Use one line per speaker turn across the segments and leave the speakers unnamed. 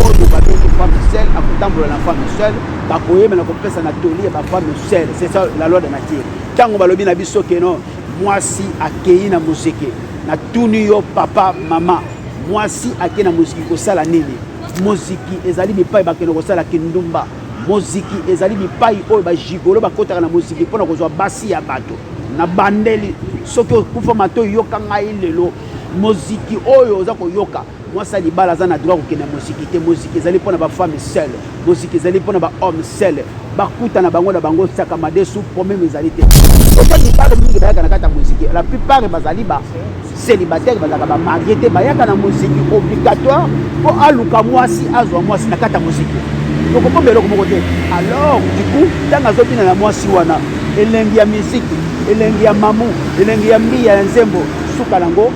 oyo babengi femme seule akotambola na femme seule bakoyemela kopesa na toli ya bafemme seule c'est ça la loi de nature ntango balobi na biso keno mwasi akei na mozeke natuni yo papa mama mwasi akei na moziki kosala nini moziki ezali bipai bakende kosala kindumba moziki ezali bipai oyo bajigolo bakotaka na moziki mpo na kozwa basi ya bato na bandeli soki okufa matoi yoka ngai lelo moziki oyo oza koyoka mwasi ya libala aza na droit kokende moziki te moziki ezali mpo na bafemme seul moziki ezali mpo na bahomme seul bakuta na bango na bango sakamade su problème ezali te oza libala mingi bayaka na kati ya moziki la plupart bazali ba célibataire bazalaka bamarie te bayaka na moziki obligatoire mpo aluka mwasi azwa mwasi na kati ya moziki tokokomba eloko moko te alors du coup ntango azobina na mwasi wana elengi ya miziki elengi ya mamu elengi ya mbiya ya nzembo suka nango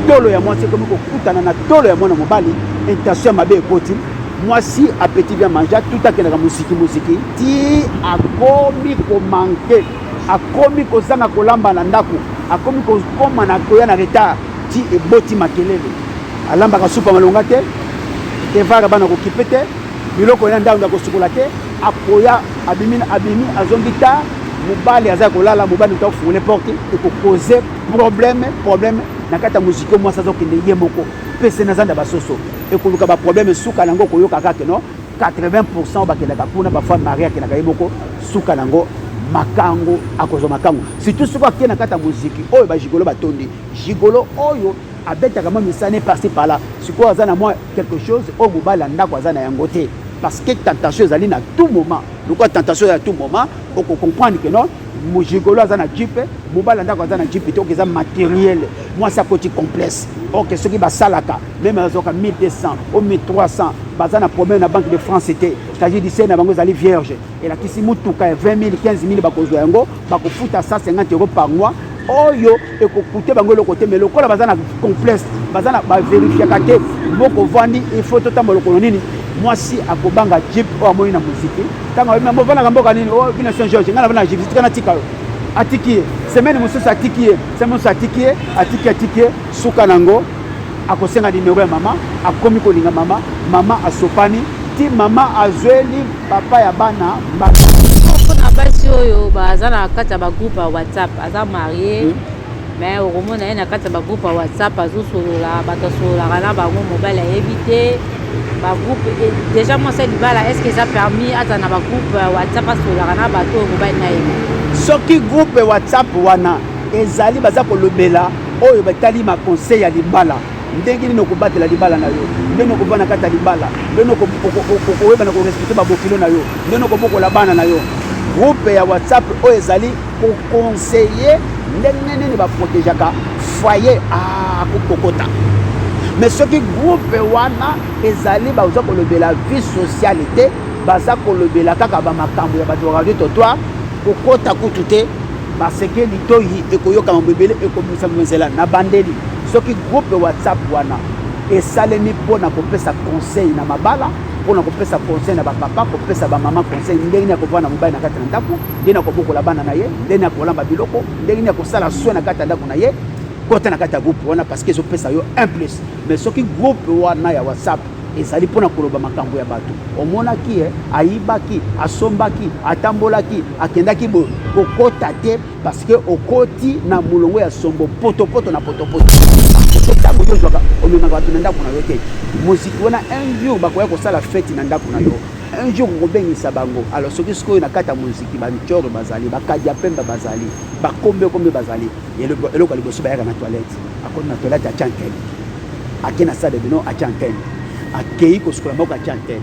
tolo ya mwasi ekomi kokutana na tolo ya mwana mobali intention ya mabe ekoti mwasi apeti bya manja tout akendaka moziki moziki ti akomi komanke akomi kozanga kolamba na ndako akomi kokoma na koya na retard ti eboti makelele alambaka supa malonga te evara bana kokipe te biloko ya ndako ya kosukola te akoya abimi abimi azongi ta mobali aza kolala mobali moto akofungole porte ekokoze problème problème na kati ya moziki oyo mwasi azokende ye moko pese na zanda basoso ekoluka baproblème suka na yango okoyoka kaka no 80 pourcent bakendaka kuna bafami marie akendaka ye moko suka na yango makango akozwa makango surtout soki ake na kati ya moziki oyo bajigolo batondi jigolo oyo abetaka mwa misala ne parci parla sikoyo aza na mwa quelque chose oyo mobali ya ndako aza na yango te parce que tentation ezali na tout moment lokola tentation ya tout moment oko comprendre que non mojigolo aza na jipe mobali ndako aza na jipe te oke eza materiel mwasi akoti complexe oke soki basalaka meme azwaka 1200 o 1300 baza na problème na banque de france te cagidise na bango ezali vierge elakisi motuka ya 20 000 15 000 bakozwa yango bakofuta 150 euro par mois oyo ekokute bango eloko te mais lokola baza na complexe baza na baverifiaka te boko vandi ifo totambola lokolo nini mwasi akobanga jip oyo amoni na moziki ntango ayebi mambo ofandaka mboka nini o oh, bino saint george ngai navanda na jip tika natika yo atiki ye semaine mosusu atiki ye semaine mosusu atiki ye atiki atiki ye suka na yango akosenga nimero ya mama akomi kolinga mama mama asopani ti mama azweli papa ya bana mbata moko na
basi oyo baza na kati ya bagroupe ya whatsapp aza marie hmm. mais okomona ye na kati ya bagroupe ya whatsapp azosolola bato asololaka na bango mobali ayebi te bagroupe déjà mwasi ya libala est ce que eza permis aza na bagroupe ya whatsapp asololaka na bato oyo mobali na yebi soki groupe
whatsapp wana ezali baza kolobela oyo batali baconseil ya libala ndenge nini okobatela libala na yo ndenge okobana kati ya libala ndenge okoyebana korespecte babokilo na yo ndenge okobokola bana na yo groupe ya whatsapp oyo ezali kokonseye ndenge nini baprotegeaka foyer akokokota ah, mais soki groupe wana ezali baza kolobela vie sociale te baza kolobela kaka bamakambo ya bato ya radio totoire kokota kutu te baseke litoyi ekoyoka mambo ebele ekobimisa nzela na bandeli soki groupe whatsapp wana esalemi mpo na kopesa conseil na mabala mpo na kopesa conseil na bapapa kopesa bamama conseil ndenge nini akovanda na mobali na kati na ndako ndenge nini akobokola bana na ye ndenge nini akolamba biloko ndenge nini akosala swe na kati ya ndako na ye kota na kati ya groupe wana parce que ezopesa yo un plus mais soki groupe wana ya whatsapp ezali mpo na koloba makambo ya bato omonaki ye ayibaki asombaki atambolaki akendaki boye kokota te parceke okoti na molongo ya sombo potopoto na potopoto so ntango yo ozwaka omemaka bato na ndako na yo te moziki wana un jour bakoya kosala feti na ndako na yo un jour okobengisa bango alors soki sikoyo na kati ya moziki bancoro bazali bakadi ya pembe bazali bakombe kombe bazali eloko ya liboso bayaka na toilette akoti na toilette ya chankeli ake na stade bino atia antenne akei kosukola maboko atia antenne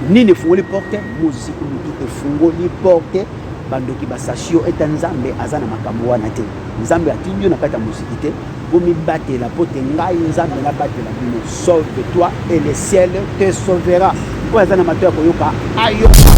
nini efungoli porte moziki motu efungoli porte bandoki basasio ete nzambe aza na makambo wana te nzambe atindi yo na kati ya moziki te bomibatela mpo te ngai nzambe nabatela bino sauve toi et le ciel te sauvera oyo aza na mato ya koyoka ayoka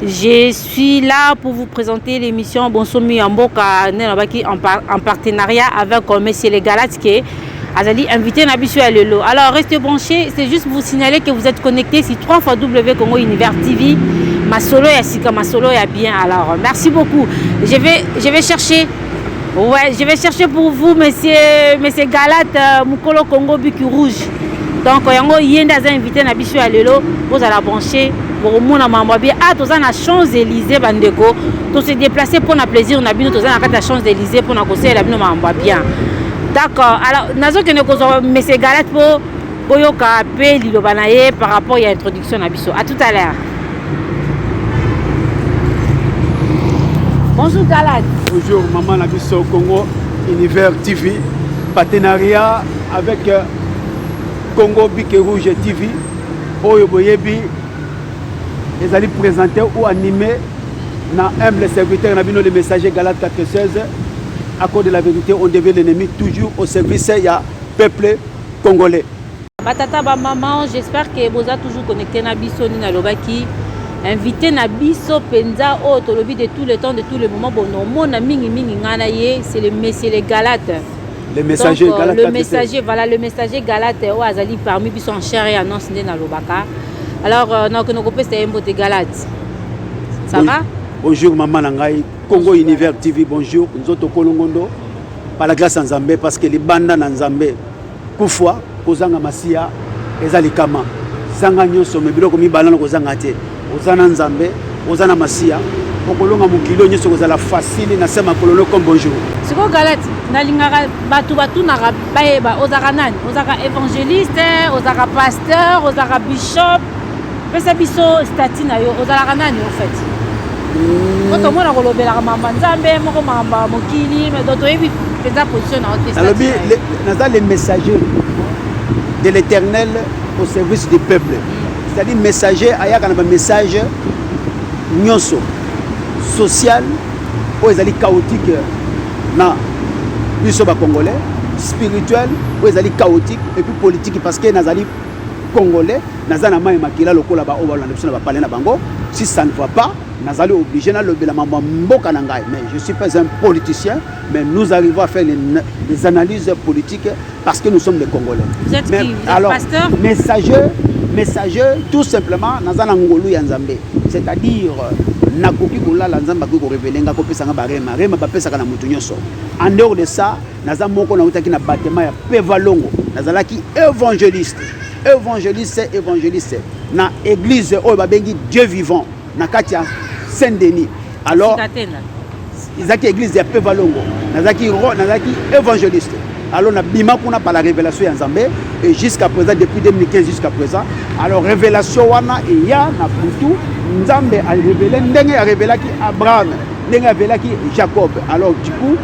Je suis là pour vous présenter l'émission Bonsomi ya mboka nde nabaki en partenariat avec euh, Monsieur le Galate que azali invité na biso ya lelo. Alors restez branchés, c'est juste vous signaler que vous êtes connectés sur 3 fois W Congo Univers TV. Masolo ya sika, masolo ya bien. Alors merci beaucoup. Je vais je vais chercher Ouais, je vais chercher pour vous, monsieur, monsieur Galat, euh, Mukolo Congo Buki Rouge. Donc, yango yende aza invité na biso ya lelo, bozala branché, bokomona mambo bien. Ah, toza na Champs-Élysées bandeko, to se déplacer pour na plaisir na bino, toza na kata Champs-Élysées pour na conseiller la bino mambo bien. D'accord. Alors, nazo kende ko monsieur Galat pour boyoka pe liloba na ye par rapport ya introduction Son na biso. À tout à l'heure. Bonjour Galad. Bonjour maman na
biso Congo Univers TV partenariat avec euh, Congo Bique Rouge TV oyo boyebi ezali présenté ou animé na humble serviteur na bino le messager Galad 416 à cause de la vérité on devait l'ennemi toujours au service ya peuple congolais Ba tata ba
maman, j'espère que boza toujours connecté na biso ni nalobaki invité na biso penza oyo oh, tolobi de tout le temps de tout le moment bon omona mingi mingi ngai na ye c'est le monsieur le galate le messager
Donc, euh, galate le messager
voilà
le
messager galate oyo oh, azali parmi biso en chair et annonce nde nalobaka alors euh, nakokende kopesa ye mbote galate ça oui. va bonjour mama na
ngai congo univers tv bonjour nzoto kolongondo pala glace ya nzambe parce que libanda na nzambe Kufa kozanga masiya eza likama. Zanga nyoso me biloko mibale na kozanga te. Oza na Nzambe, oza na masiya. Okolonga mokili oyo nyoso kozala facile na sema kololo comme bonjour. Siko Galati,
nalingaka bato batunaka bayeba ozaka nani? Ozaka evangeliste, ozaka pasteur, ozaka bishop? pesa biso stati na yo ozalaka nani au fait hmm. po tomona kolobelaka mamba nzambe moko mamba mokili do toyebi mpenza position na yo te nalobi naza
le messager de l'éternel au service du peuple c'est-à-dire messager ayaka na bamessage nyonso social oyo ezali chaotique na biso bacongolais spirituel oyo ezali chaotique epuis politique parce que nazali congolais naza na mai makila lokola baoyo balanda biso na bapale na bango si ça ne va pas nazali obligé nalobela mambo ya mboka na ngai mais je suis pas un politicien mais nous arrivons à faire les, les analyses politiques parce que nous sommes des congolais Vous êtes mais, qui Vous alors
êtes pasteur messager
messager tout simplement naza na ngolu ya nzambe c'est-à-dire nakoki kolala nzambe akoki korevele ngai kopesa ngai barema rema bapesaka na moto nyonso en dehors de ça naza moko nautaki na batema ya pevalongo nazalaki évangéliste évangéliste évangéliste na église oyo babengi dieu vivant na kati ya saint denis alors ezalaki église ya pevalongo nazalaki nazalaki évangéliste alors nabima kuna par la révélation ya nzambe et jusqu'à présent depuis 2015 jusqu'à présent alors révélation wana eya na butu nzambe arévele ndenge arévelaki abraham ndenge avelaki jacob alors du coup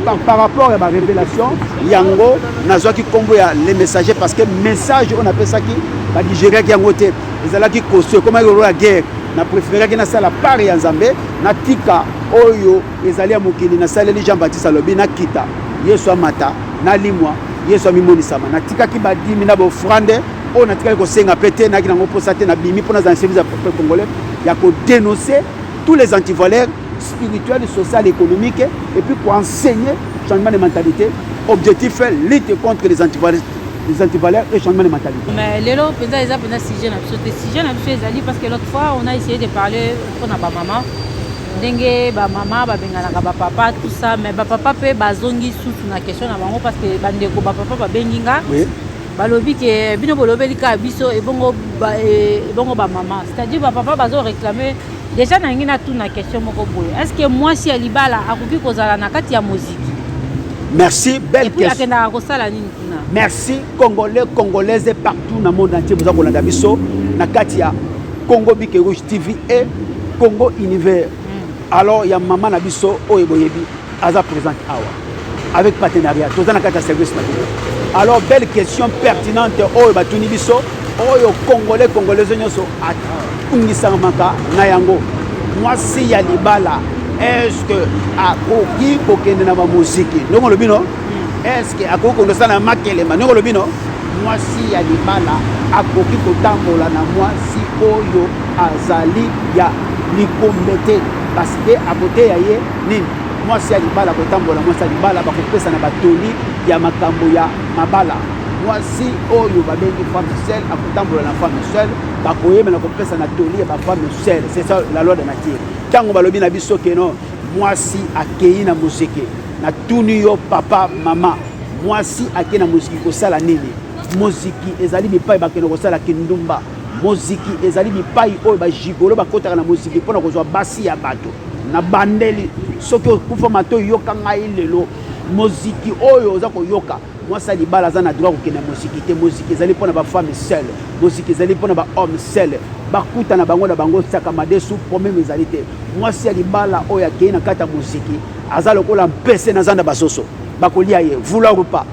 par, par rapport ya barévélation yango nazwaki nkombo ya le messager parce que message oyo napesaki badigeriaki yango te ezalaki koso ekomaki lolo ya guerre na préféreraki nasala part ya nzambe natika oyo ezali ya mokili nasaleli jean baptiste alobi nakita yesu amata nalimwa yesu amimonisama natikaki badimi na bofrande oyo natikaki kosenga mpe te nayaki nango mposa te nabimi mpo nazala na service ya peuple congolais ya kodenonce tous les antivaleurs spirituelle, sociale, économique et puis pour enseigner changement de mentalité. Objectif est lutte contre les antivaleurs les antivaleurs et changement de mentalité. Mais lelo penza eza
penza sujet na biso te sujet na biso ezali parce que l'autre fois on a essayé de parler pour na ba maman ndenge ba maman ba benganaka ba papa tout ça mais ba papa pe bazongi susu na question na bango parce que bandeko ba papa ba bengi nga oui. balobi ke bino bolobeli kaka biso ebongo ba, ebongo ba maman c'est-à-dire ba papa bazo réclamer Deja nalingi natuna question moko boye. Est-ce que mwasi ya libala akoki kozala na kati ya moziki? Merci,
belle question. Akendaka kosala nini kuna? Merci Congolais, Congolaise partout na monde entier boza kolanda biso na kati ya Congo Bike Rouge TV et Congo Univers. Hmm. Alors ya mama na biso oyo boyebi aza présente awa avec partenariat toza na kati ya service na bino alors belle question pertinente oyo batuni biso oyo congolais congolaise nyonso atungisamaka na yango mwasi ya libala eske akoki kokende na bamoziki ndongo olobi no eske akoki kondosa na makelema ndongo olobi no mwasi ya libala akoki kotambola na mwasi oyo azali ya likombe te parce que akoteya ye nini mwasi ya libala kotambola mwasi ya libala bakopesa na batoli ya makambo ya mabala mwasi oyo babengi femme seule akotambola na femme seule bakoyeba na kopesa na toli ya bafemme seule c'est ça la loi de nature ntango balobi na biso keno mwasi akei na mozeke natuni yo papa mama mwasi akei na moziki kosala nini moziki ezali bipai bakende kosala kindumba moziki ezali bipai oyo bajigolo bakotaka na moziki mpo na kozwa basi ya bato na bandeli soki okufa mato yoka ngai lelo moziki oyo oza koyoka mwasi ya libala aza na droit kokende na moziki te moziki ezali mpo na bafemme seule moziki ezali mpo na bahomme seule bakuta na bango na bango saka madesu probleme ezali te mwasi ya libala oyo akei na kati ya moziki aza lokola mpese na zanda basoso bakolia ye vouloir ou pas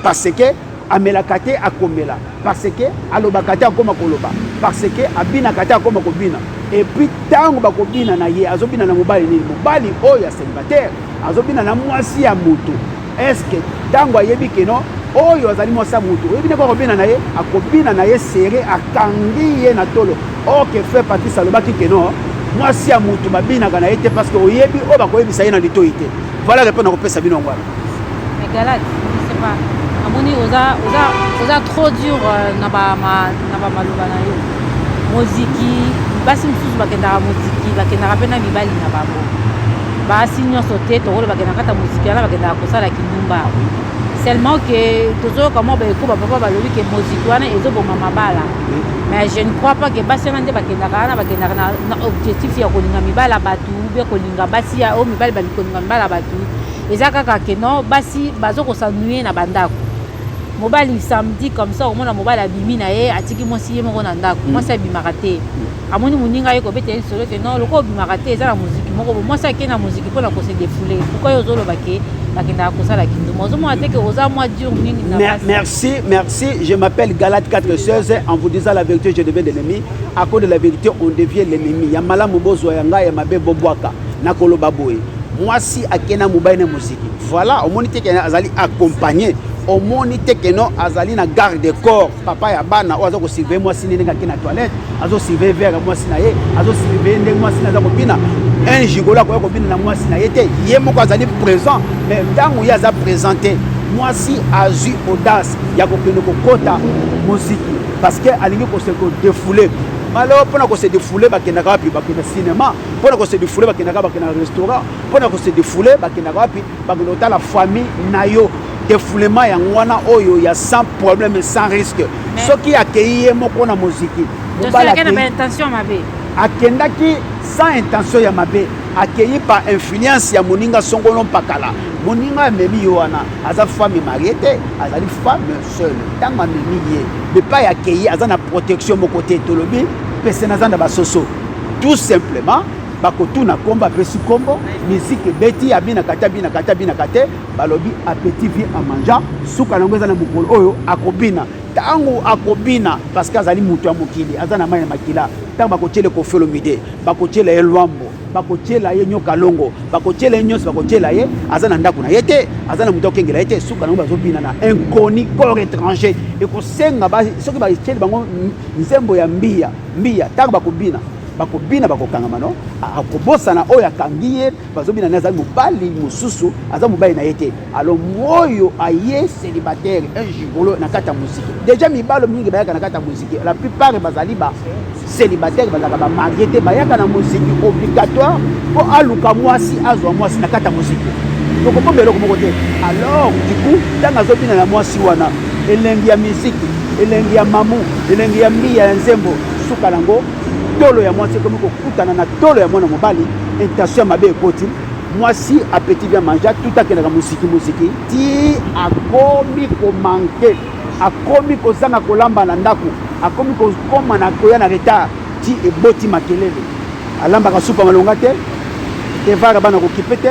Parce que amelaka te akomela parce que alobaka te akoma koloba parce que abinaka te akoma kobina epuis ntango bakobina na ye azobina na mobali nini mobali oyo ya célibataire azobina na mwasi ya moto estce ntango ayebi keno oyo azali mwasi ya moto oyebi ndeko akobina na ye akobina na ye sere akangi ye na tolo orke fe patrice alobaki keno mwasi ya moto babinaka na ye te parce que oyebi oyo bakoyebisa ye na litoi te voilà repo nakopesa bino yango wana Mais Galad,
je sais pas. Amoni oza oza oza trop dur euh, na ba ma na ba maloba na yo. Moziki, basi mosusu bakendaka moziki, bakendaka pe na mibali na bango. Basi nyonso te tokolo bakendaka kata moziki wana bakendaka kosala kindumba. Seulement que tozoyoka mwa baeko ba papa balobi ke moziki wana ezoboma mabala. Mais je ne crois pas que basi wana nde bakendaka wana bakendaka na, na objectif ya kolinga mibala bato ou bien kolinga basi ya oyo mibali balingi kolinga mibala bato eza kaka ke no basi bazo kosanuye na bandako mobali samedi comme ça okomona mobali abimi na ye atiki mwasi ye moko na ndako mm. mwasi abimaka te mm. amoni moninga ye kobeta ye lisolo te non lokola obimaka te eza na moziki moko bo mwasi ake na moziki mpo na kose defoule pourkoi yo ozoloba ke bakendaka kosala kinduma ozomona te ke oza mwa dur mingi merci merci
je m'appelle galate 416 en vous disant la vérité je devais de l'ennemi à cause de la vérité on devient l'ennemi ya malamu bozwa ya ngai ya mabe bobwaka nakoloba boye mwasi ake na mobali na moziki voilà omoni te ke azali accompagne omoni te ke no azali na garde de corps papa ya bana oyo aza kosurveille mwasi nde ndenge ake na toilette azosurveille vere ya mwasi na ye azosurveille ndenge mwasi na aza kobina un gigolo akoya kobina na mwasi na ye te ye moko azali présent mais ntango ye aza présent te mwasi azwi audace ya kokende kokota moziki parce que alingi kose kodefoule malo mpo na kose defoule bakendaka wapi bakenda cinéma mpo na kose defoule bakendaka bakenda na restaurant mpo na kose defoule bakendaka wapi bakenda kotala famille na yo defoulement yango wana oyo ya sans problème sans risque soki akei ye moko na moziki akendaki sans intention ya mabe akei par influence ya moninga songolo mpakala moninga amemi yo wana aza femme marie te azali femme seule ntango amemi ye epai akei aza na protection moko te tolobi pese naza na basoso tout simplement bakotuna kombo apesi kombo miziki ebeti abinaka te abinaka te abinaka te balobi apeti vie en mangeant suka na yango eza na mokolo oyo akobina ntango akobina parce que azali moto ya mokili aza na mai ya makila ntango bakotyela ekofelomide bakotyela ye lwambo bakotyela ye nyoka longo bakotyela ye nyonso bakotyela ye aza na ndako na ye te aza na moto akengela ye te suka na yango bazobina na inconi corps étranger ekosenga soki batyeli bango nzembo ya mbiya mbiya ntango bakobina bakobina bakokangama no akobosana oyo akangi ye bazobina naye azali mobali mosusu aza mobali na ye te alo moyo aye célibataire un gigolo na kati ya moziki deja mibalo mingi bayaka na kati ya moziki la plupart bazali ba célibataire bazalaka bamarie te bayaka na moziki obligatoire mpo aluka mwasi azwa mwasi na kati ya moziki tokokomba eloko moko te alors du coup ntango azobina na mwasi wana elengi ya miziki elengi ya mamu elengi ya mbiya ya nzembo suka nango tolo ya mwasi ekomi kokutana na tolo ya mwana mobali intention ya mabe ekoti mwasi apeti bya manja tout akendaka mosiki mosiki ti akomi komanke akomi kozanga kolamba na ndako akomi kokoma na koya na retard ti eboti makelele alambaka supa malonga te evara bana kokipe te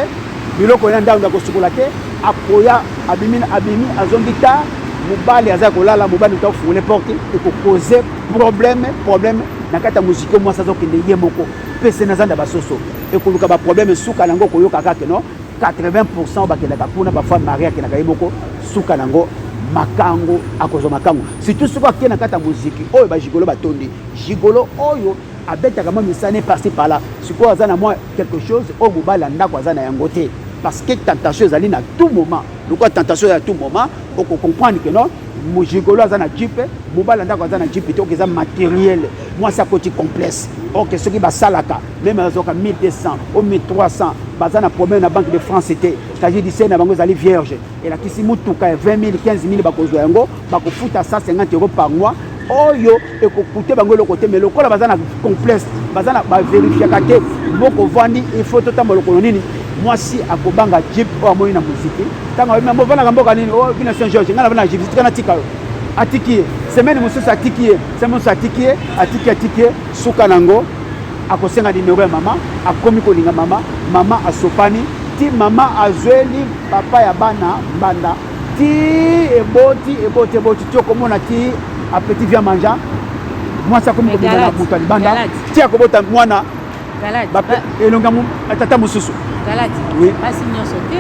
biloko ya ndako ya kosukola te akoya abimi na abimi azongi ta mobali aza kolala mobali moto afungole porte ekokoze probleme probleme na kati ya moziki mwasi azokende ye moko mpe se na zanda basoso ekoluka baprobleme suka na yango koyoka kake no 80 pourcent bakendaka kuna bafoi marie akendaka ye moko suka na yango makango akozwa makango surtout soki ake na kati ya moziki oyo bajigolo batondi jigolo oyo abetaka mwa misane parci pala sikoyo aza na mwa quelque chose oyo mobali ya ndako aza na yango te parce que tentation ezali na tout moment lokola tentation ya tout moment okocomprendre que non mojigolo aza na jipe mobali ya ndako aza na jipe te oke eza materiel mwasi akoti complexe oke soki basalaka meme azwaka 1200 o 1300 baza na problème na banque de france te cagidicel na bango ezali vierge elakisi motuka ya 20 000 15 000 bakozwa yango bakofuta 150 euro par mois oyo ekokute bango eloko te me lokola baza na complexe baza na baverifiaka te boko vandi ifo totambola lokolo nini mwasi akobanga jip oyo amoni na moziki ntango ayebi yango ofandaka mboka nini o bino saint george ngai nafanda na jipsi tika natika yo atiki ye semaine mosusu atiki ye semaine mosusu atiki ye atiki atiki ye suka na yango akosenga nimero ya mama akomi kolinga mama mama asopani ti mama azweli papa ya bana mbanda ti eboti eboti eboti ti okomona ti apeti via manja mwasi akomi kobima na butu ya libanda ti akobota mwana elonga tata mosusu
basi nyonso
te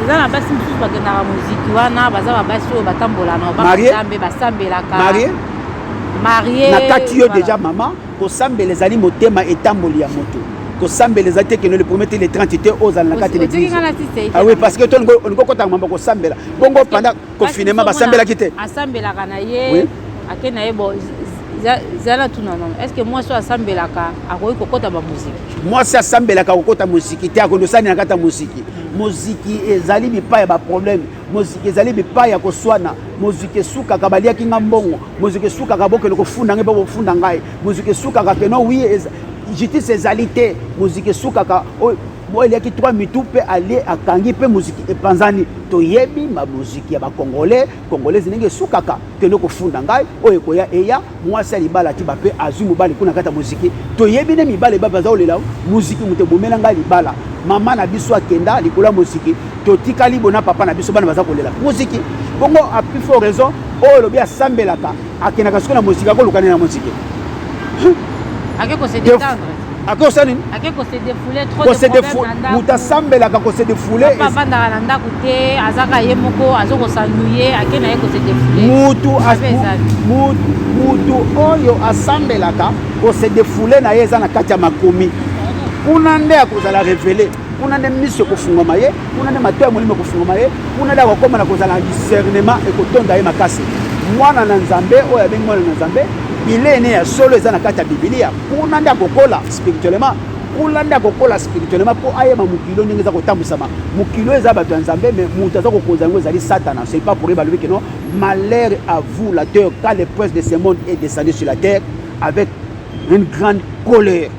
eza na basi mosusu bakendaka moziki wana baza babasi oyo batambola na obambe basambelaka marie nakati yo
deja mama Kosambela ezali motema etamboli ya moto. Kosambela ezali te kende le premier te le 30 te ozala na kati l'église. Ah oui parce que toi on ko kota mambo kosambela. Bongo pendant confinement basambelaki te. Asambelaka na ye.
Ake na ye bon zala tuna nano est ce que mwasi oyo asambelaka akoki kokota bamoziki mwasi asambelaka
kokota moziki te akoki osani na kati ya moziki moziki ezali bipai ya baproblème moziki ezali bipai ya koswana moziki esukaka baliaki nga mbongo moziki esukaka bokende kofunda ngai mpo bofunda ngai moziki esukaka keno wi justice ezali te moziki esukaka oyo eliaki 3 mitu mpe alie akangi mpe moziki epanzani toyebi mamoziki ya bacongolais congolais ndenge esukaka kende kofunda ngai oyo ekoya eya Mwasi ya libala atiba pe azwi mobali kuna kata moziki. Toyebi ne mibale ba baza olela muziki moto ebomela ngai libala. Mama na biso akenda likolo ya moziki. Totikali bona papa na biso bana baza kolela muziki. Bongo a plus fort raison oyo lobi asambelaka akendaka soki na moziki akolukana na moziki.
Ake ko se détendre. ake osala nini ake
kose defoule
trop kose defoule moto asambelaka
kose defoule papa avandaka na ndako
te azaka ye moko azokosanduye ake na ye kose defoule mutu mutu
mutu oyo asambelaka kose defoule na ye eza na kati ya makomi kuna nde akozala revele kuna nde miso ekofungwama ye kuna nde mato ya molimo ekofungwama ye kuna nde akokoma na kozala discernement ekotonda ye makasi mwana na nzambe oyo abengi mwana na nzambe bilei ne ya solo eza na kati ya bibilia kuna nde akokola spirituellement kuna nde akokola spirituellement mpo ayeba mokili oyo ndenge eza kotambwisama mokili oyo eza bato ya nzambe mais moto aza kokonza yango ezali satana c'est pas pour ye balobi keno malheur à vous la terre quand le prince de ce monde est descendu sur la terre avec une grande colère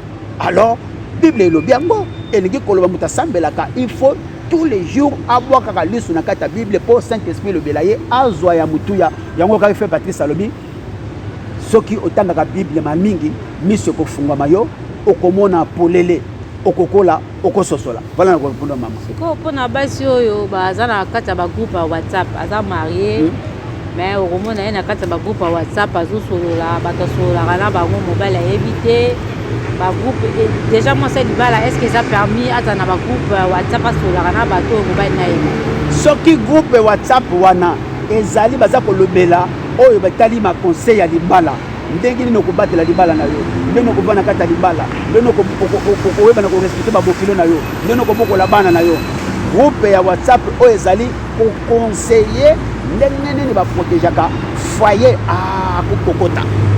alors bible elobi yango elingi koloba moto asambelaka il faut tous les jours abwakaka liso na kati ya bible mpo saint esprit elobela ye azwa ya motuya yango kaka fe patrice alobi soki otangaka bible ma mingi miso ekofungwama yo okomona polele okokola okososola wana na kopona mama sikoyo mpona basi
oyo baza na kati ya bagroupe ya whatsapp aza marie hmm. mais okomona ye na kati ya bagroupe ya whatsapp azosolola bato asololaka na bango mobali ayebi te bagroupe déjà mwasi ya libala est ce que eza permis aza na bagroupe ya whatsapp asololaka na bato oyo mobali na ye soki groupe
whatsapp wana ezali baza kolobela oyo batali ma conseil ya libala ndenge nini okobatela libala na yo ndenge okoba na kati ya libala ndenge okoyeba na korespecte babokilo na yo ndenge okobokola bana na yo groupe ya whatsapp oyo ezali kokonseye ndenge nini baprotegeaka foyer akokokota ah,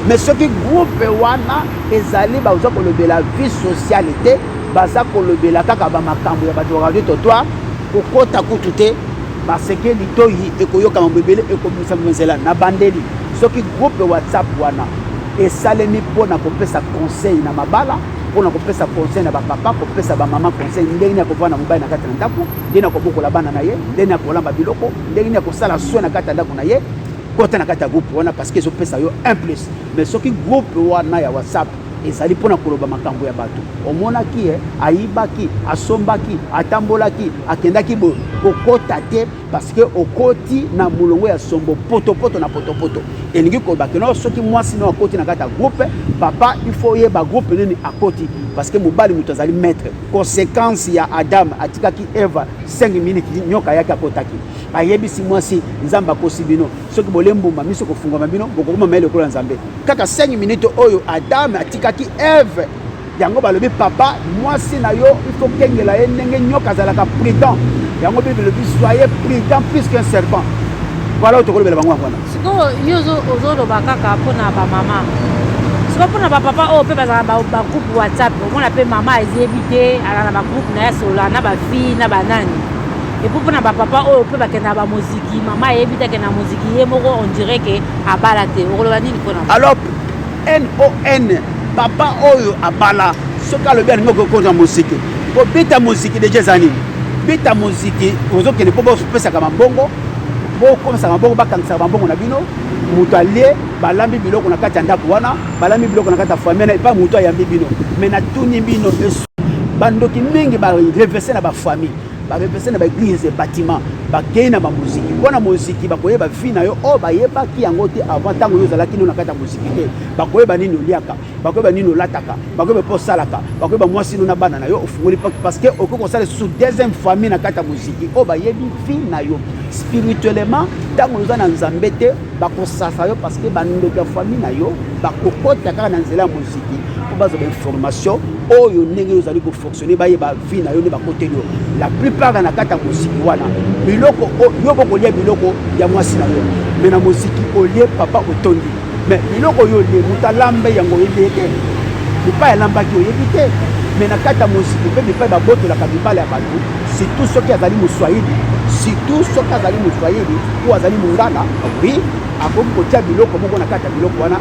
mais soki groupe wana ezali baza kolobela vie sociale te baza kolobela kaka bamakambo ya bato ya radio totoire kokota kutu te baseke litoyi ekoyoka mambo ebele ekobimisa nzela na bandeli soki groupe whatsapp wana esalemi mpo na kopesa conseil na mabala mpo na kopesa conseil na bapapa kopesa bamama conseil ndenge nini akovanda na mobali na kati na ndako ndenge nini akobokola bana na ye ndenge nini akolamba biloko ndenge nini akosala soin na kati ya ndako na ye kota na kati ya groupe wana parce que ezopesa yo un plus mais soki groupe wana ya whatsapp ezali mpo na koloba makambo ya bato omonaki ye ayibaki asombaki atambolaki akendaki boye kokota te parceke okoti na molongo ya sombo potopoto na potopoto elingi koloba keno soki mwasi no akoti na kati ya groupe papa ifo oyeba groupe nini akoti parceke mobali moto azali maître conséquence ya adam atikaki eva 5 minutes nyoka yaki akotaki ayebisi mwasi nzambe akosi bino soki bolie mbuma miso kofungwama bino bokokoma mayele lokola nzambe kaka 5 minute oyo adame atikaki eve yango balobi papa mwasi na yo ifo kengela ye ndenge nyoka azalaka prudent yango bible elobi soye prudent plus qu'un serpent voilà oyo tokolobela bango yango wana sikoyo yo
ozoloba kaka mpona bamama sikoyo mpona bapapa oyo mpe bazalaka bagroupe whatsapp omona mpe mama ayebi te alala na bagroupe na ye asolola na bafille na banani epuis mpo na bapapa oyo mpe bakendaka bamoziki mama ayebi te akenda moziki ye moko on dirait ke abala te okoloba nini mpo na alors
non papa oyo abala soki alobi alingi okokota moziki kobeta moziki deja eza nini beta moziki ozokende mpo bopesaka mabongo bokomisa mabongo bakangisaka mabongo na bino moto alie balambi biloko na kati ya ndako wana balambi biloko na kati ya famille na epai moto ayambi bino me natuni bino bandoki mingi barevese na bafamille ba represent na ba eglise ya bâtiment bakei na bamoziki mpo na moziki bakoyeba vi na yo oyo oh, bayebaki yango te avant ntango yo ozalaki no na kati ya moziki te bakoyeba nini oliaka bakoyeba nini olataka bakoyeba mpo osalaka bakoyeba mwasi no na bana na yo ofungoli porte parce que okoki kosala lisusu deuxième famille na kati ya moziki oyo oh, bayebi vi na yo spirituellement ntango oza na nzambe te bakosasa yo parce que bandeko ya famille na yo bakokota kaka na nzela ya moziki mpo bazwa bainformation oyo ndenge yo ozali kofo soni bayeba vie na yo nde bakoteli yo la plupart na kati ya moziki wana biloko yo bokolia biloko ya mwasi na yo me na moziki olie papa otondi me biloko oyo olie moto alambe yango oyebi ye te bipai alambaki oyebi te me na kati ya moziki mpe bipai babotolaka bibala ya bato surtout soki azali moswahili surtout soki azali moswahili oyo azali mongala oui akoki kotia biloko moko na kati ya biloko wana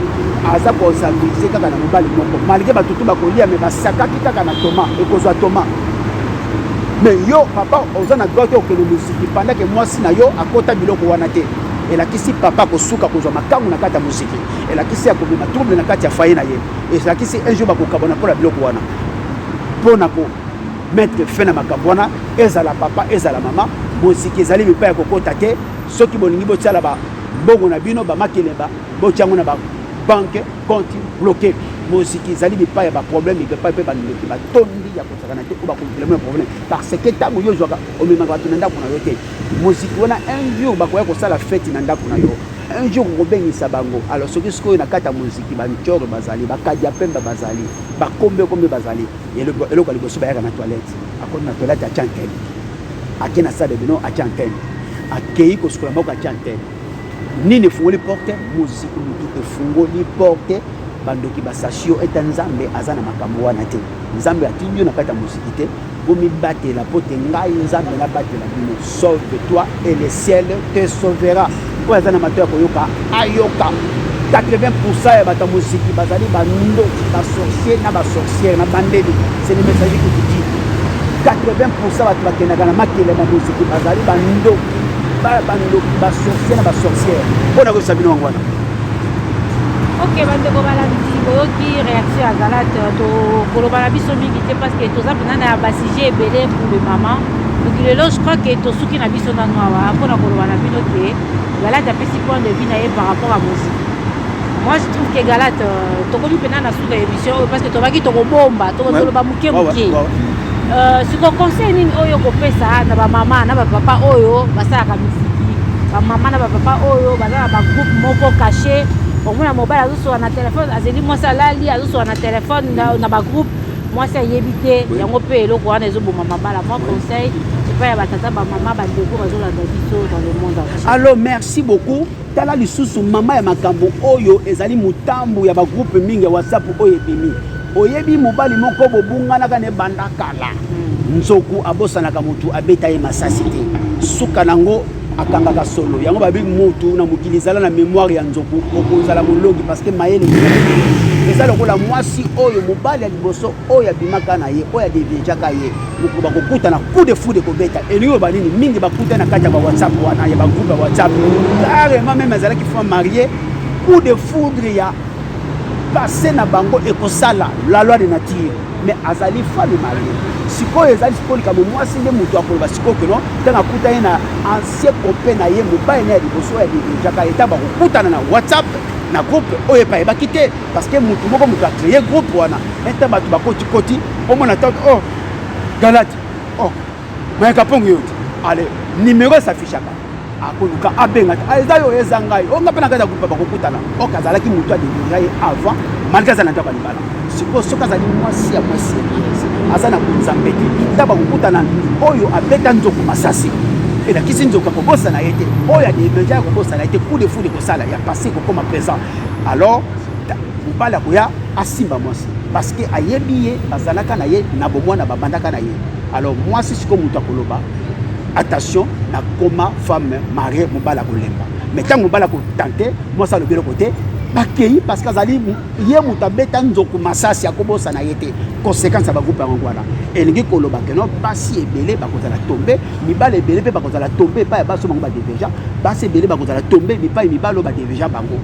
aza kosavize kaka na mobali moko malgre bato tu bakolia me basakaki kaka na toma ekozwa toma me yo papa oza na droit te okende moziki pandake mwasi na yo akota biloko wana te elakisi papa kosuka kozwa makambo na kati ya moziki elakisi ya komema trouble na kati ya faye na ye elakisi un jour bakokabana mpo na biloko wana mpo na ko mettre fin na makambo wana ezala papa ezala mama moziki ezali bipai ya kokota te soki bolingi botyala bambongo na bino bamakelemba botya yango na babanke konti bloke moziki ezali bipai ya baproblème epai mpe bandoki batondi ya kosakana te oyo bakomplema ya problème parce que ntango yo ozwaka omemaka bato na ndako na yo te moziki wana un jour bakoya kosala feti na ndako na yo un jour okobengisa bango alors soki sikoyo na kati ya moziki bancoro bazali bakadi ya pembe bazali bakombe kombe bazali eloko ya liboso bayaka na toilette akoti na toilette atya antene ake na sale bino atya antene akei kosukola maboko atya antene nini efungoli porte moziki motu efungoli porte bandoki basasi yo ete nzambe aza na makambo wana te nzambe atindi yo na kati ya moziki te bomibatela mpo te ngai nzambe nabatela bino sauve toi et le ciel te sauvera oyo aza na mato ya koyoka ayoka 80 pourcent ya bato ya moziki bazali bandoki basorcier na basorciere na bandeli c'est le message que tu dis 80 pourcent bato bakendaka na makelema moziki bazali bandoki bandoki basorcier na basorciere mpo na koyebisa bino yango wana
ok bandeko balandi boyoki réaction ya galate tokoloba na biso mingi te parce que toza mpena na basujet ebele pour le maman Donc le loge, je crois que Tosuki n'a biso na noa, pour la koloba na bino que Galat a pris point de vue na par rapport à Mosi. Moi je trouve que Galat, euh, tokomi pena na suka émission oh, parce que tobaki tokobomba, tokoloba muke muke. Euh, siko conseil nini oyo kopesa na bamama na bapapa oyo basalaka miziki bamama na bapapa oyo baza na bagroupe moko cache omona mobali azosola na telefone azeli mwasi alali azosola na telefone na bagroupe mwasi ayebi te yango mpe eloko wana ezoboma mabala mwa conseil epai ya batata bamama bandeko bazolanda biso dans le monde entier allo merci beaucoup
tala lisusu mama ya makambo oyo ezali motambo ya bagroupe mingi ya whatsapp oyo ebimi oyebi mobali moko bobunganaka na ebanda kala hmm. nzoku abosanaka motu abeta ye masasi te suka nango akangaka solo yango babi moto na mokili ezala na memoire ya nzoku okozala molongi parce que mayele eza lokola mwasi oyo mobali ya liboso oyo abimaka na ye oyo adeviejaka ye mokolo bakokutana coup de foudre ekobeta elingi oloba nini mingi bakuta na kati ya bawhatsapp wana ya bagroupe ya whatsapp carrément meme azalaki fois marie coup de foudre ya passe na bango ekosala la loi de nature mais azali femme marie sikoyo ezali sikoyo likambo mwasi nde moto akoloba sikoyo keno ntango akutani na ancien copain na ye mobali na ya liboso ya lirinjaka eta bakokutana na whatsapp na groupe oyo epai ebaki te parce que motu moko moto acreye groupe wana ntan bato bakotikoti omona ntango o oh, galati o oh, mais kapong yo ale numéro esafichaka akoluka abenga te eza yo eza ngai o nga mpe na kati ya groupe bakokutana ok azalaki moto adegrira ye avant malgré aza na ndako ya libala sikoyo soki azali mwasi ya mwasi aza na bonzambe te nta bakokutana oyo abeta nzoko masasi elakisi nzoko akobosana ye te oyo adegrira akobosana ye te coup de foule ekosala ya passé ekokoma présent alors mobali akoya asimba mwasi parce que ayebi ye bazalaka na ye na bomwana babandaka na ye Alors mwasi siko moto akoloba attention na koma femme marie mobali akolemba mais ntango mobali akotante mwasi alobi eloko te bakei parce que azali ye moto abeta nzoku masasi akobosana ye te conséquence ya bagroupe yango wana elingi koloba keno basi ebele bakozala tombe mibali ebele mpe bakozala tombe epai ya basi bango badeveja basi ebele bakozala tombe bipai mibali oyo badeveja bango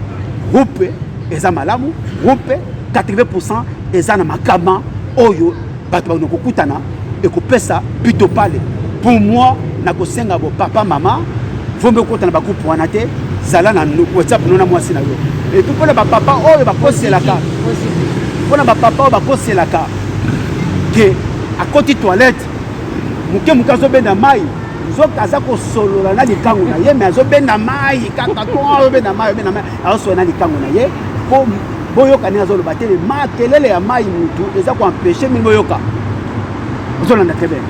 groupe eza malamu groupe 80 pourcent eza na makama oyo bato bakona kokutana ekopesa pito pale pour moi nakosenga bo papa mama vombe okota na bagroupe wana te zala na whatsapp no na mwasi na yo epuis mpona bapapa oyo bakoselaka mpona bapapa oyo bakoselaka ke akoti toilette moke moke azobenda mai nzoka aza kosolola na likangu na ye me azobenda mai kaka to obenda mai obenda mai azoswana na likango na ye mpo boyoka nini azoloba te makelele ya mai mutu eza koempeshe mini boyoka ozolanda te bene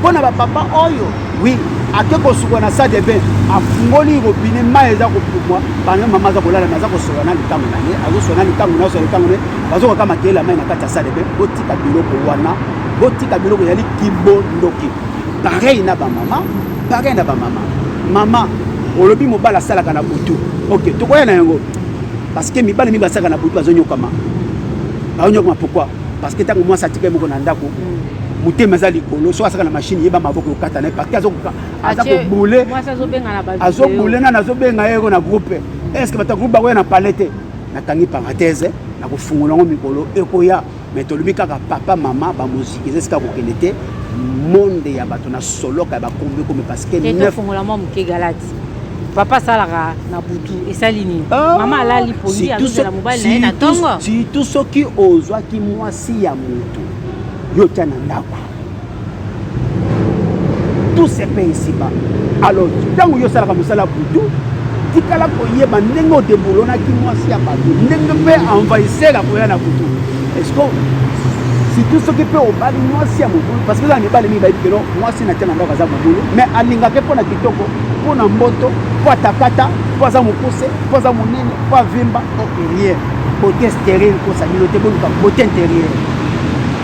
mpo na bapapa oyo wi ake kosuka na sade be afungoli robine mai eza kopumwa bana mama aza kolala me aza kosola na likango na ye azosola na likango na azosola likango na ye bazokaka makelele ya mai na kati ya sade be botika biloko wana botika biloko ezali kibondoki pareil na bamama Pareil na ba mama. Mama, olobi mobala asalaka na butu. Ok, tokoya na yango. Parce que mibali mi basaka na butu azonyokama. Azonyokama pourquoi? Parce que tango mwasi atika moko na ndako. Mm. motema eza likolo soki asaka na mashine yeba maboko okata na ye parti aza kobule azobule nani azobenga ye ko na groupe estce bato ya groupe bakoya na palais te natangi parenthèse nakofungola yango mikolo ekoya mais tolobi kaka papa mama bamoziki eza esika kokende te monde ya bato na soloka ya bakombi komi parcekefongola mwa moke
galati papa asalaka na butu esali nini ah, mama alali pongi azozela mobali na ye na ntongo surtout soki
ozwaki mwasi ya moto yo tya na ndako tout se paye ici-bas alors ntango yo osalaka mosala butu tikala koyeba ndenge odebolonaki mwasi ya bato ndenge mpe envahisseur akoya na butu esco surtout soki mpe obali mwasi ya mobulu parce que eza na mibali mingi bayebi keno mwasi na tia na ndako aza mobulu mais alingaka mpo na kitoko mpo na mboto mpo atakata mpo aza mokuse mpo aza monene mpo avimba o rien bote sterile kosa bino te boluka bote interieur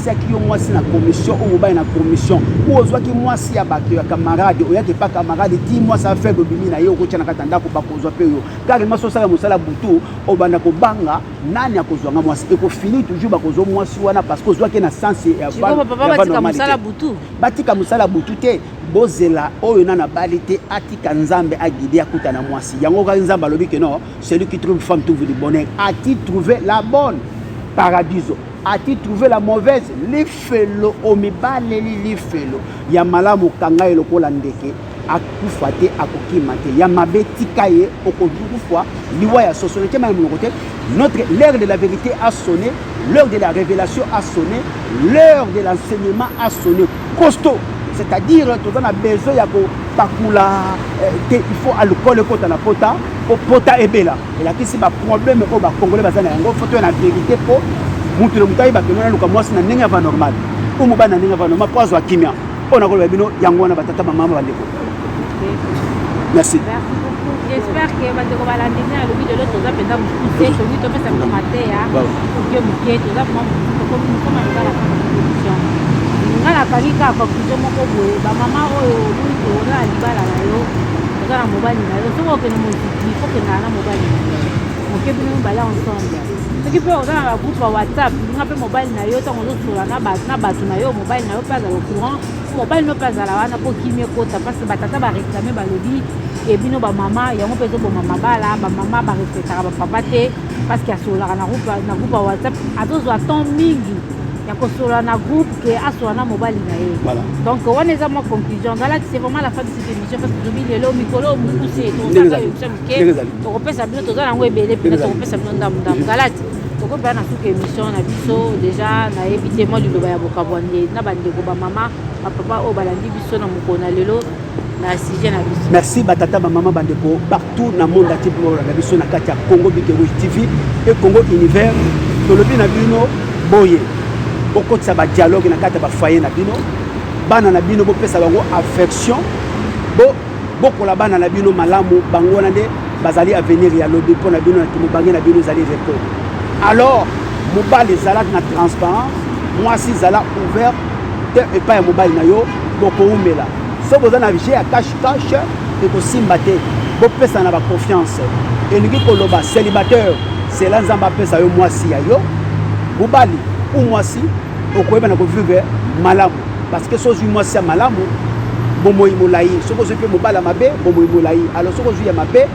otiaki yo mwasi na commission oyo mobali na commission oyo ozwaki mwasi ya bato ya camarade oyaki epa camarade ti mwasi ya faible obimi na ye okotya na kati ya ndako bakozwa mpe yo kaka mwasi osala mosala butu obanda kobanga nani akozwa nga mwasi ekofini toujours bakozwa mwasi wana parce que ozwaki na sense ya batika mosala butu te bozela oyo na nabali te atika nzambe agide akuta na mwasi yango kaki nzambe alobi ke non celui qui trouve femme trouve du bonheur ati trouve la bonne paradiso ati trouve la mauvaise lifelo omibaleli lifelo ya malamu kanga ye lokola ndeke akufa te akokima te ya mabe tika ye okokufa liwa ya soso nekema ya monoko te notre l'heure de la vérité a sonné l'heure de la révélation a sonné l'heure de l'enseignement a sonné costaud c'est-à-dire toza na besoin ya kopakula eh, te il faut alcool ekota na pota po pota ebela elakisi ba problème oyo ba congolais baza na yango foto na verité po mutu le mutu ayeba ke nona luka mwasi na ndenge ava normal ou mobali na ndenge ava normal po azwa kimia oyo nakoloba bino yango wana batata bamama bandeko merci j'espère
que bandeko balandi ngai alobi lelo toza mpenza mokuse tokoki topesa bino mateya moke moke toza mokoma ngala conclusion ngala akangi kaka conclusion moko boye bamama oyo oyi toza na libala na yo oza na mobali na yo soki okende il faut que nana mobali moke bino mibale ensemble soki mpe oza na bagroupe ya whatsapp nga mpe mobali na yo ntango ozosola na bato na yo mobali na yo mpe azala courant mobali no mpe azala wana mpo kimi ekota mpasi batata bareklame balobi e bino bamama yango mpe ezoboma mabala bamama barespectaka bapapa te parceke asololaka na groupe ya whatsapp azozwa temps mingi ya kosolola na groupe ke asola na mobali na ye donc wana eza mwa conclusion ngalakisi vraiment la femme emission parce que tobi lelo mikolo oyo mokuse tokosaka emission moke tokopesa bino toza nango ebele mpena tokopesa bino ndambo ndambo galati tokobela na suka émission na biso déjà nayebi te mwa liloba ya bokabwani na bandeko bamama bapapa oyo balandi biso na mokolo na lelo na sujet na biso merci batata bamama bandeko
partout na monde ati mpo balanda biso na kati ya congo bigerouge tv mpe congo univers tolobi na bino boye bokotisa badialogue na kati ya bafoye na bino bana na bino bopesa bango affection bo bokola bana na bino malamu bango wana nde bazali avenir ya lobi mpo na bino na mobange na bino ezali repo alors mobali ezalaki na transparence mwasi ezala ouvert te epai ya mobali na yo bokoumela soki boza na vie ya cache cache ekosimba te bopesa na baconfiance elingi koloba célibataire zela nzambe apesa yo mwasi ya yo mobali ou mwasi okoyeba na kovivre malamu parce que soki ozwi mwasi ya malamu bomoi molai soki ozwi mpe mobali ya mabe bomoi molai alors soki ozwi ya mabe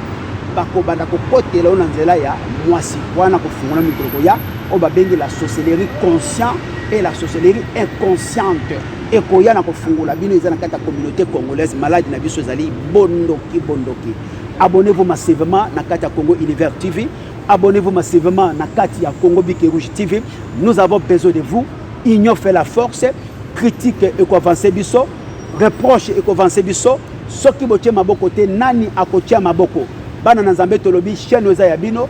bakobanda kokotela yo na nzela ya mwasi wana kofungola mikolo koya oyo babengi la sorcellerie conscient et la sorcellerie inconsciente ekoya na kofungola bino eza na kati ya communauté congolaise maladi na biso ezali bondoki bondoki abonnez-vous massivement na kati ya congo univers tv Abonnez-vous massivement na kati ya Congo Bic Rouge TV. Nous avons besoin de vous. Union fait la force. Critique et quoi avancer biso. Reproche et quoi avancer biso. Soki botie maboko te nani akotia maboko. Bana na Nzambe tolobi chaîne oza ya bino.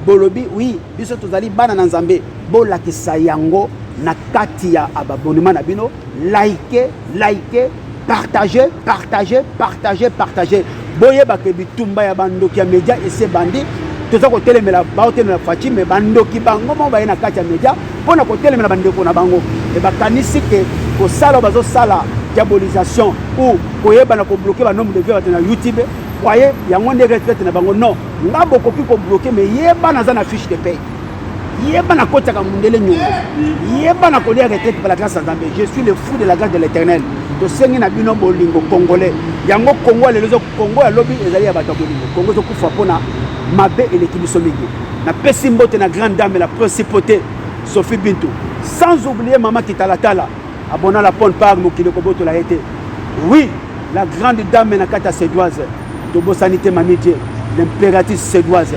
Bolobi oui, biso tozali bana na Nzambe. Bolakisa yango na kati ya abonnement na bino. Likez, likez partage partage partage partage boyeba ke bitumba ya bandoki ya media ese bandi toza kotelemela baotelemela faci me bandoki bango moko baye na kati ya media mpo na kotelemela bandeko na bango e bakanisi ke kosala oyo bazosala diabolisation ou koyebana kobloke banombre de vie bato na youtube kwaye yango nde retraite na bango non nga bokoki kobloke me yebana aza na fiche de paye yeba na kotaka mundele nyongo yeba na kolia retraite par la grâce ya nzambe je suis le fou de la grâce de l'éternel tosengi na bino bolingo congolais yango kongo ya lelo kongo ya lobi ezali ya bato ya bolingo kongo ezokufa mpona mabe eleki biso mingi napesi mbote na grande dame la principauté sophie bintu sans oublier mama kitalatala abona la pone par mokili kobotola ye te oui la grande dame na kati ya sedoise tobosani te mamie die l'impératrice sedoise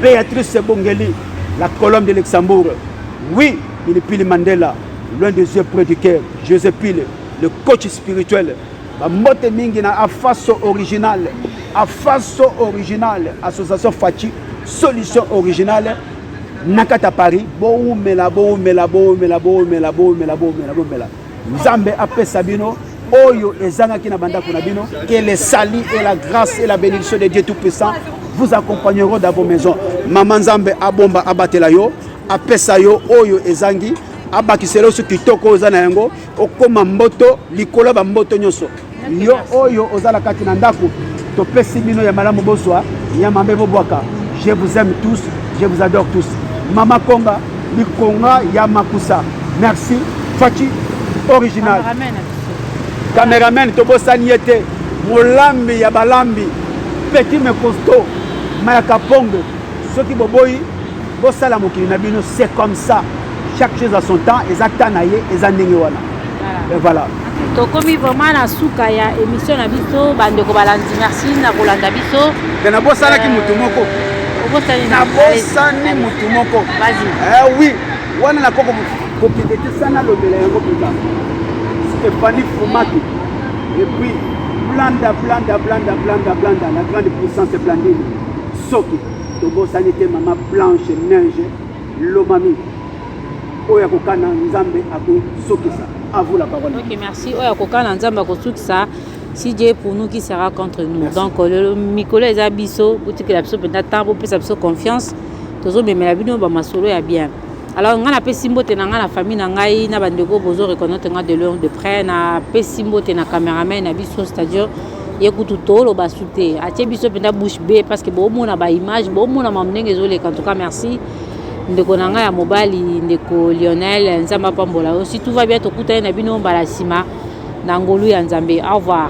Beatrice Ebongeli, la colonne de Luxembourg. Oui, Pilipili Mandela, loin des yeux, près du cœur. José Pile, le coach spirituel. Bambote mingi na Afaso original. Afaso original, association Fachi, solution originale. Nakata Paris, boumela, boumela, boumela, boumela, boumela, boumela, boumela. Nzambe apesa bino oyo ezangaki na bandako na bino que le salut et la grâce et la bénédiction de Dieu tout puissant vous accompagneront dans vos maisons mama nzambe abomba abatela yo apesa yo oyo ezangi abakisela yo so kitoko oyo eza na yango okoma mboto likolo ya bamboto nyonso yo oyo oza na kati na ndako topesi bino ya malamu bozwa ya mabe bobwaka je vous aime tous je vous adore tous mama konga likonga ya makusa merci faci original cameraman tobosani ye te molambi ya balambi petit me costo mayaka pongo soki boboyi bosala mokili na bino c'est comme ça chaque chose à son temps eza temps na ye eza ndenge wana mais voilà tokomi vraiment
na suka ya émission na biso bandeko balandi merci na kolanda biso mpe nabosanaki
motu moko nabosani motu moko wi
wana
nakoko kokendetisa nalobela yango mpenza stéphanie fumaki epuis blanda blanda blanda blanda blanda la grande puissance blandine soki tobosani te mama blanche neige lomami oyo akokana nzambe akosukisa avoue la parole ok merci oyo akokana
nzambe akosukisa si dieu pour nous qui sera contre nous merci. donc lelo mikolo eza biso botikela biso mpenza ntango bopesa biso confiance tozomemela bino bamasolo ya bien alors ngai napesi mbote na ngai na famille na ngai na bandeko bozo reconnaitre ngai de loin de près napesi mbote na cameraman na biso c'est-à-dire ye kutu toloba su te atie biso mpenza bouche be parce que bomona baimage bomona mamu ndenge ezoleka en tout cas merci ndeko na ngai ya mobali ndeko lionel nzambe apambola yo si tout va bien tokutani na bino mbala nsima na ngolu ya nzambe au revoir